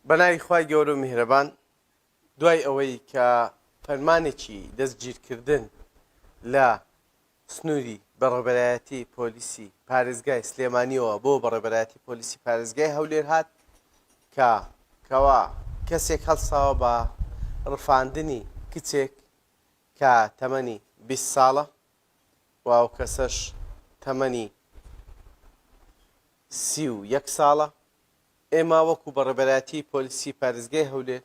بەناوی خوای گەورە و میهرەبان دوای ئەوەی کە فەرمانێکی دەستگیرکردن لە سنووری بەڕێبەرایەتی پۆلیسی پارێزگای سلێمانیەوە بۆ بەڕێبەرایەتی پۆلیسی پارێزگای هەولێر هات کە کەوا کەسێک هەڵساوە بە ڕفاندنی کچێک کە تەمەنی 20 ساڵە و ئەو کەسەش تەمەنی سی و یەک ساڵە، ئێمە وەکو بە ڕێبەرایەتیی پۆلیسی پارێزگای هەولێر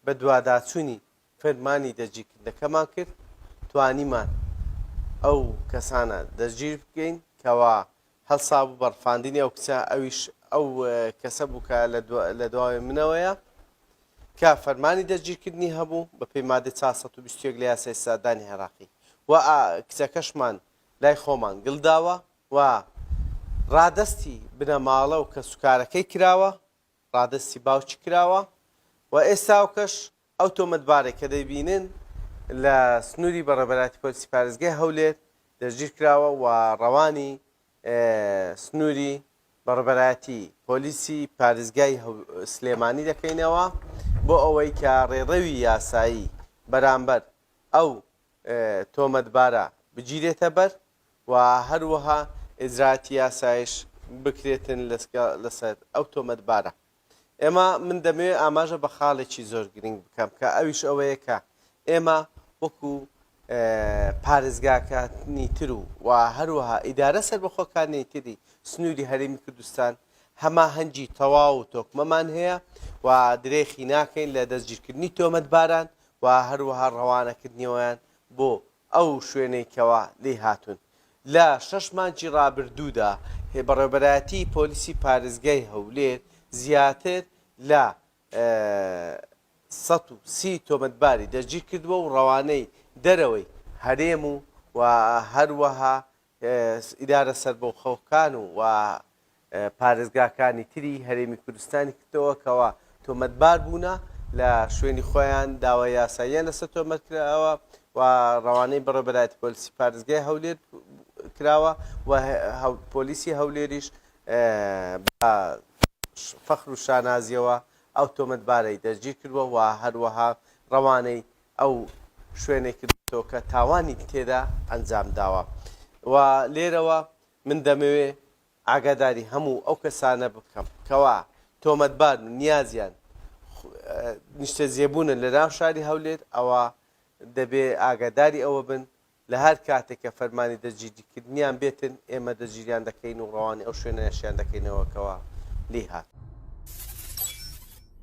بە دواداچوونی فەرمانی دەستگیرکردنەکەمان کرد، توانیمان ئەو کەسانە دەستگیر بکەین کەوا هەڵسابوو بە ڕفاندنی ئەو کچە، ئەویش ئەو کەسە بوو کە لە دواوەی منەوەیە کە فەرمانی دەستگیرکردنی هەبوو بەپێی مادەی چوار سەد و بیست و یەک لە یاسای سزادانی عێراقی و کچەکەشمان لای خۆمان گلداوە. و ڕادەستی بنەماڵە و کەسوکارەکەی کراوە، ڕادەستی باوکی کراوە و ئێستاوکەش ئەو تۆمەتبارەی کە دەیبینن لە سنووری بەڕێوەبەرایەتی پۆلیسی پارێزگای هەولێر دەستگیر کراوە و ڕەوانی سنووری بەڕێوەبەرایەتی پۆلیسی پارێزگای سلێمانی دەکەینەوە بۆ ئەوەی کە ڕێڕەوی یاسایی بەرامبەر ئەو تۆمەتبارە بگیرێتەبەر. و هەروەها ئیجرائاتی یاسایش بکرێتن لەسەر ئەو تۆمەتبارە. ئێمە من دەمەوێت ئاماژە بە خاڵێکی زۆر گرنگ بکەم کە ئەویش ئەوەیە کە ئێمە وەکو پارێزگاکانی تر و و هەروەها ئیدارە سەربەخۆکانی تری سنووری هەرێمی کوردستان هەماهەنگی تەواو و تۆکمەمان هەیە و درێخی ناکەین لە دەستگیرکردنی تۆمەتباران و هەروەها ڕەوانەکردنیەوەیان بۆ ئەو شوێنەی کەوا لێی هاتوون. لە شەش مانگی رابردوودا بەڕێوەبەرایەتیی پۆلیسی پارێزگای هەولێر زیاتر لە سەد و سی تۆمەتباری دەستگیرکردووە و رەوانەی دەرەوەی هەرێم و هەروەها ئیدارە سەربەخۆکان و پارێزگاکانی تری هەرێمی کوردستانی کردەوە کەوا تۆمەتبار بوونە لە شوێنی خۆیان داوای یاساییان لەسەر تۆمەت کراوە و ڕەوانەی بەڕێوەبەرایەتی پۆلیسی پارێزگای هەولێر کراوە و پۆلیسی هەولێریش بە فەخر و شانازیەوە ئەو تۆمەتبارەی دەستگیر کردووە و هەروەها ڕەوانەی ئەو شوێنێک کردۆتەوە کە تاوانی تێدا ئەنجام داوە و لێرەوە من دەمەوێ ئاگاداری هەموو ئەو کەسانە بکەم کەوا تۆمەتبار و نیازیان نیشتەجێبوونە لە ناو شاری هەولێر ئەوە دەبێ ئاگاداری ئەوە بن لە هەر کاتێک کە فەرمانی دەجیدیکردنیان بێتن ئێمە دەجیریان دەکەین و ڕەوانی ئەو شوێنەشیان دەکەینەوەکەوە لێ هات.